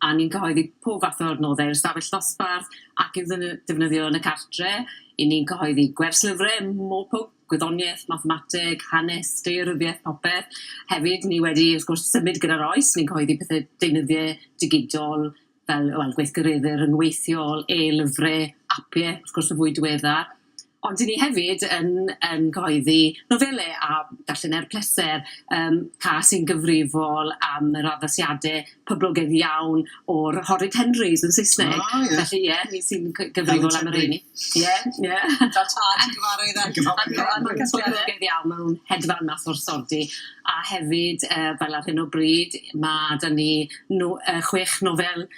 a ni'n cyhoeddi pob fath o adnoddau i'r ystafell ddosbarth ac i'w ddefny- defnyddio yn y cartre', 'yn ni'n cyhoeddi gwerslyfre ym mhob pwnc, gwyddonieth, mathemateg, hanes, daearyddiaeth, popeth, hefyd ni wedi wrth gwrs symud gyda'r oes, ni'n cyhoeddi pethe deunyddie digidol fel wel gweithgaredde ryngweithiol, e-lyfre, apie wrth gwrs y fwy diweddar. Ond 'dyn ni hefyd yn yn cyhoeddi nofele a darllen er pleser yym Cas sy'n gyfrifol am yr addasiade poblogedd iawn o'r Horrid Henrys yn Saesneg. O ie. Felly ie ni sy'n cy- gyfrifol am y rheiny. Ie ie. Fel tad yn gyfarwydd â poblogaidd iawn ma' nw'n hedfan mas o'r sodi a hefyd yy fel ar hyn o bryd ma' 'da ni nw- yy chwech nofel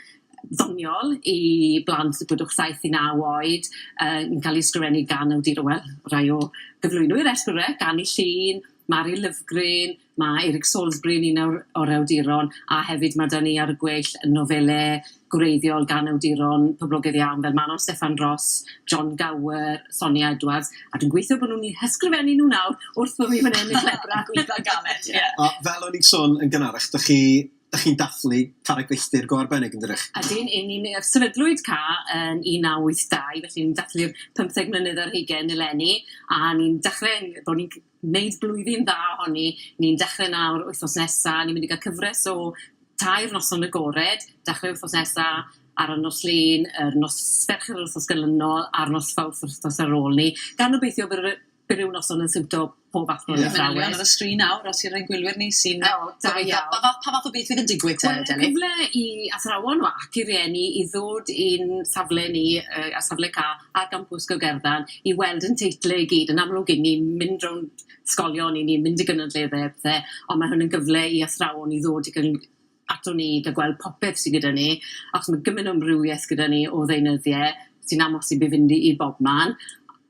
ddoniol i blant y gwydwch saith i naw oed yy yn ca'l ei sgrifennu gan awduro- wel rai o gyflwynwyr Es Pedwar Ec, Anni Llŷn, Mari Lyfgren, ma' Eric Salisbury yn un o'r o'r awduron a hefyd ma' 'da ni ar y gweill nofele gwreiddiol gan awduron poblogedd iawn fel Manon Steffan Ros, John Gower, Sonia Edwards a dwi'n gweithio bo' nw'n 'u hysgrifennu nw nawr wrth bo' fi fyn 'yn yn clebran gwitho'n galed ie. A fel o'n i'n sôn yn gynharach 'dych chi Dach chi'n dathlu carreg filltir go arbennig, yn dydych? Ydyn, yn un... Sefydlwyd ca yn 1982, felly ni'n dathlu'r pymtheg mlynedd ar hugain eleni, a ni'n dechre yn... bo' ni'n c- neud blwyddyn dda ohoni, ni'n dechre nawr wythnos nesa, ni'n mynd i ga'l cyfres o tair noson agored, dechre wythnos nesa, ar y nos Lun, yr nos Fercher yr wythnos gylynol, a'r nos Fawrth yr wythnos ar ôl 'ny, gan obeithio bod yr yy byw noson yn siwto pob athro yn y fframwaith. Ie, manylion ar y sgrin nawr, os yw rhai gwylwyr ni sy'n gobeithio, pa fath, pa fath o beth fydd yn digwydd te, Delyth? Wel, cyfle i athrawon o ac i rieni i ddod i'n safle ni, yy a safle Ka ar gampws Gelgerddan i weld ein teitle i gyd. Yn amlwg i ni'n mynd rownd sgolion i ni'n mynd i gynadledde a pethe, ond ma' hwn yn gyfle i athrawon i ddod i gyn- ato ni i gael gweld popeth sy gyda ni, achos mae gymaint o amrywiaeth gyda ni o ddeunyddiau sy'n amhosib i fynd i bob man,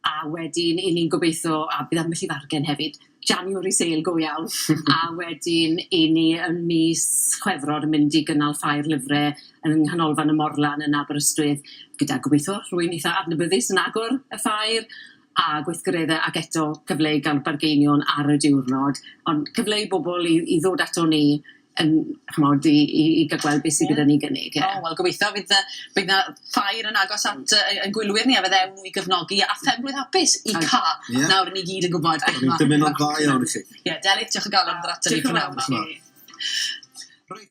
a wedyn 'y ni'n gobeitho, a bydd ambell i fargen hefyd, January sale go iawn, a wedyn 'y ni yn mis Chwefror yn mynd i gynnal Ffair Lifre yng Nghanolfan y Morlan yn Aberystwyth, gyda gobeitho rhywun eitha' adnabyddus yn agor y ffair. a gweithgareddau ac eto cyfle i ga'l bargeinion ar y diwrnod ond cyfle i bobl i i ddod ato ni yn ch'mod i i i ga'l gweld beth sy gyda ni gynnig ie. O wel gobeithio fydd yy bydd 'na ffair yn agos at yy ein ein gwylwyr ni a fydde ewn nhw i gefnogi a phenblwydd hapus i Ka! Ie. Nawr 'yn ni gyd yn gwbod beth ma'... O'n i'n dymuno'n dda iawn i chi. Ie deliwt diolch o galon am ddod ato ni prynawn 'ma. Diolch yn fawr i chi. Reit.